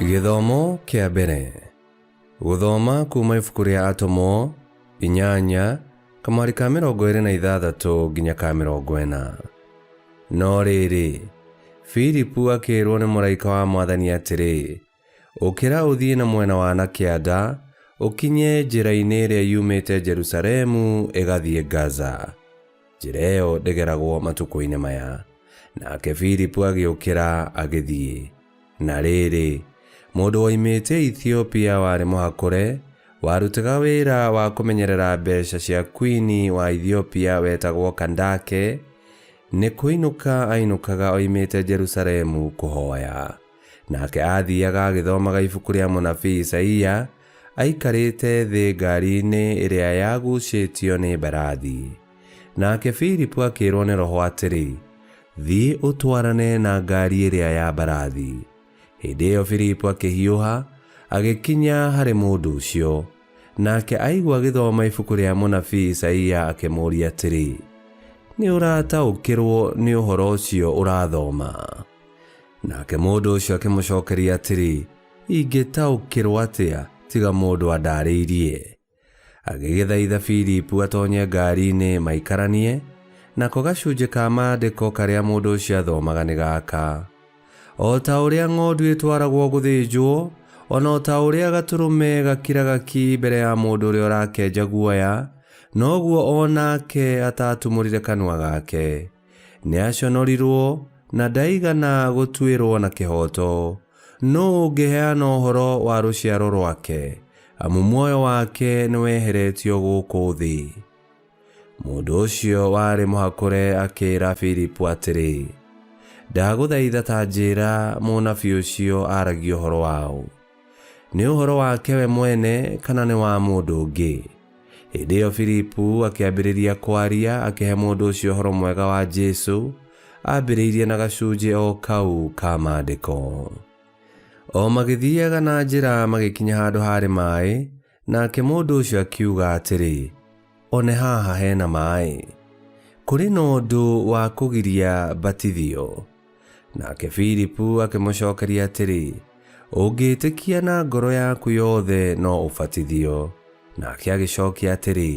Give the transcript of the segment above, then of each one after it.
gĩthomo kĩa mbere gũthoma kuuma ibuku rĩa atomo inyanya kamari ka mĩrongo ĩrĩ na ithathatũ nginya ka mĩrongo ĩna no rĩrĩ filipu akĩĩrwo nĩ mũraika wa mwathani atĩrĩ Ũkĩra ũthiĩ na mwena wa na kĩanda, ũkinye njĩra-inĩ ĩrĩa yumĩte Jerusalemu ĩgathiĩ Gaza. Njĩra ĩyo ndĩgeragwo matukũ-inĩ maya. Nake Filipu agĩũkĩra agĩthiĩ. Na rĩrĩ, mũndũ woimĩte Ethiopia warĩ mũhakũre, warutaga wĩra wa kũmenyerera mbeca cia kwini wa Ethiopia wetagwo Kandake, nĩ kũinũka ainũkaga oimĩte Jerusalemu kũhoya. Nake aathiaga agĩthomaga ibuku rĩa mũnabii Isaia, aikarĩte thĩ ngaari-inĩ ĩrĩa yagucĩtio nĩ mbarathi. Nake Filipu akĩĩrwo nĩ Roho atĩrĩ, Thiĩ ũtwarane na ngaari ĩrĩa ya mbarathi. Hĩndĩ ĩyo Filipu akĩhiũha, agĩkinya harĩ mũndũ ũcio. Nake aigua agĩthoma ibuku rĩa mũnabii Isaia akĩmũũria atĩrĩ, Nĩ ũrataũkĩrwo nĩ ũhoro ũcio ũrathoma? Nake mũndũ ũcio akĩmũcokeria atĩrĩ, ingĩtaũkĩrwo atĩa tiga mũndũ andaarĩirie. Agĩgĩthaitha Filipu atonye ngari-inĩ maikaranie, nako gacunjĩ ka maandĩko karĩa mũndũ ũcio athomaga nĩ gaka. O ta ũrĩa ng'ondu ĩtwaragwo gũthĩnjwo, o na o ta ũrĩa gatũrũme gakiraga ki mbere ya mũndũ ũrĩa ũrakenja guoya, noguo o nake ataatumũrire kanua gake. Nĩaconorirwo na ndaigana gũtuĩrwo na kĩhooto. Nũ ũngĩheana ũhoro wa rũciaro rwake, amu muoyo wake nĩweheretio gũkũ thĩ? Mũndũ ũcio warĩ mũhakũre akĩĩra Filipu atĩrĩ, Ndagũthaitha ta njĩĩra mũnabii ũcio aaragia ũhoro wa ũ. nĩ ũhoro wake we mwene kana nĩ wa mũndũ ũngĩ hĩndĩ ĩyo filipu akĩambĩrĩria kwaria akĩhe mũndũ ũcio ũhoro mwega wa jesu ambĩrĩirie na gacunjĩ o kau ka maandĩko o magĩthiaga na njĩra magĩkinya handũ harĩ maĩ Nake mũndũ ũcio akiuga atĩrĩ, one haha hena maĩ. Kũrĩ na ũndũ wa kũgiria batithio. Nake Filipu akĩmũcokeria atĩrĩ, ũngĩĩtĩkia na ngoro yaku yothe no ũbatithio. Nake agĩcokia atĩrĩ,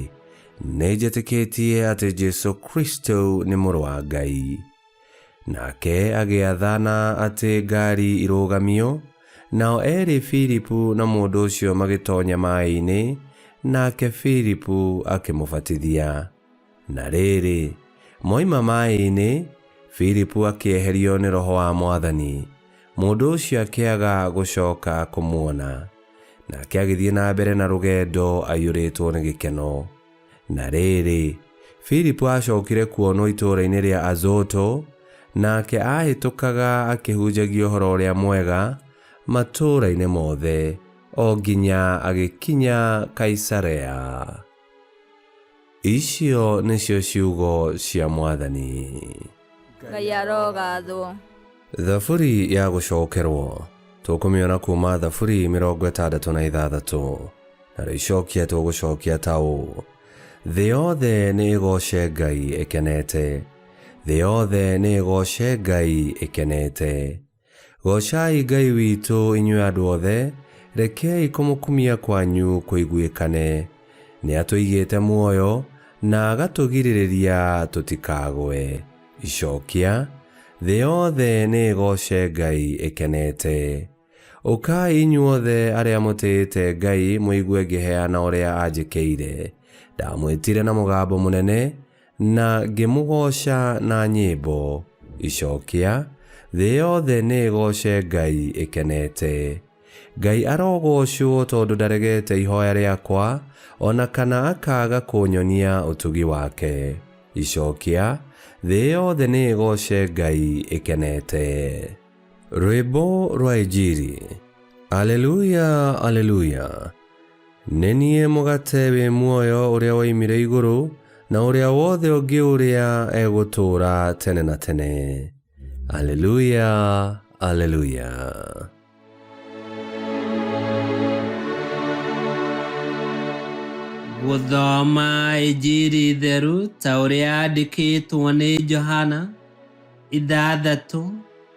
nĩnjĩtĩkĩtie atĩ Jesu Kristo nĩ mũrũ wa Ngai. Nake agĩathana atĩ ngaari irũgamio, nao eerĩ Filipu na mũndũ ũcio magĩtonya maĩ-inĩ, nake Filipu akĩmũbatithia. Na rĩrĩ, moima maĩ-inĩ, Filipu akĩeherio nĩ Roho wa Mwathani, mũndũ ũcio akĩaga gũcoka kũmuona. Nake agĩthiĩ na mbere na rũgendo aiyũrĩtwo nĩ gĩkeno. Na rĩrĩ, Filipu aacokire kuonwo itũũra-inĩ rĩa Azoto, nake aahĩtũkaga akĩhunjagia ũhoro ũrĩa mwega matũũra-inĩ mothe, o nginya agĩkinya Kaisarea. Icio nĩcio ciugo cia Mwathani. ngai arogathwo thaburi ya gũcokerwo tũkũmĩona kuma thaburi mĩrongo ĩtandatũ na ithathatũ na rĩcokia tũgũcokia ta ũũ thĩ yothe nĩ ĩgoce ngai ĩkenete thĩ yothe nĩ ĩgoce ngai ĩkenete Goocai Ngai witũ inyuĩ andũ othe, rekei kũmũkumia kwanyu kũiguĩkane. Nĩ atũigĩte muoyo na agatũgirĩrĩria tũtikagwe. Icookia, Thĩ yothe nĩ ĩgooce Ngai ĩkenete. Ũkai inyuothe arĩa mũtĩĩte Ngai mũigue ngĩheana ũrĩa anjĩkĩire. Ndamwĩtire na mũgambo mũnene, Na ngĩmũgooca na nyĩmbo. Icookia, thĩ yothe nĩĩgooce Ngai ĩkenete. Ngai arogoocwo tondũ ndaregete ihooya rĩakwa, o na kana akaaga kũnyonia ũtugi wake. Icookia, thĩ yothe nĩĩgooce Ngai ĩkenete. Rwĩmbo rwa Injiri. Aleluya! Aleluya! Nĩ niĩ mũgate wĩ muoyo ũrĩa woimire igũrũ, na ũrĩa wothe ũngĩũrĩa egũtũũra tene na tene. Aleluya, aleluya. Gũthoma Injiri theru ta ũrĩa yandĩkĩtwo nĩ Johana ithathatũ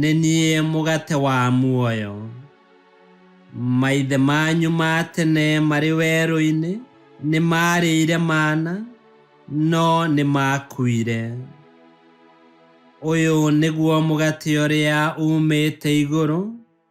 Nĩ niĩ mũgate wa muoyo. Maithe manyu ma tene marĩ werũ-inĩ nĩ maarĩire mana, no nĩ maakuire. Ũyũ nĩguo mũgate ũrĩa uumĩte igũrũ,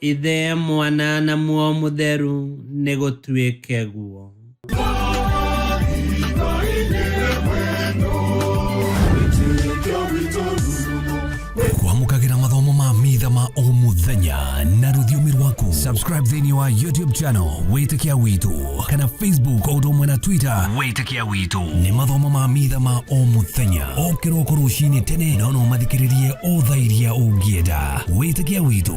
Ithe, Mwana, na Muoyo Mũtheru, nĩ gũtuĩke guo. kwamũkagĩra mathomo ma mitha ma o mũthenya na rũthiomi rwaku subscribe thĩinĩ wa youtube channel wĩtĩkia witũ kana facebook o ũndũ ũmwe na twitter wĩtĩkia witũ nĩ mathomo ma mitha ma o mũthenya o kĩroko rũcinĩ tene na no ũmathikĩrĩrie o thaa iria ũngĩenda wĩtĩkia witũ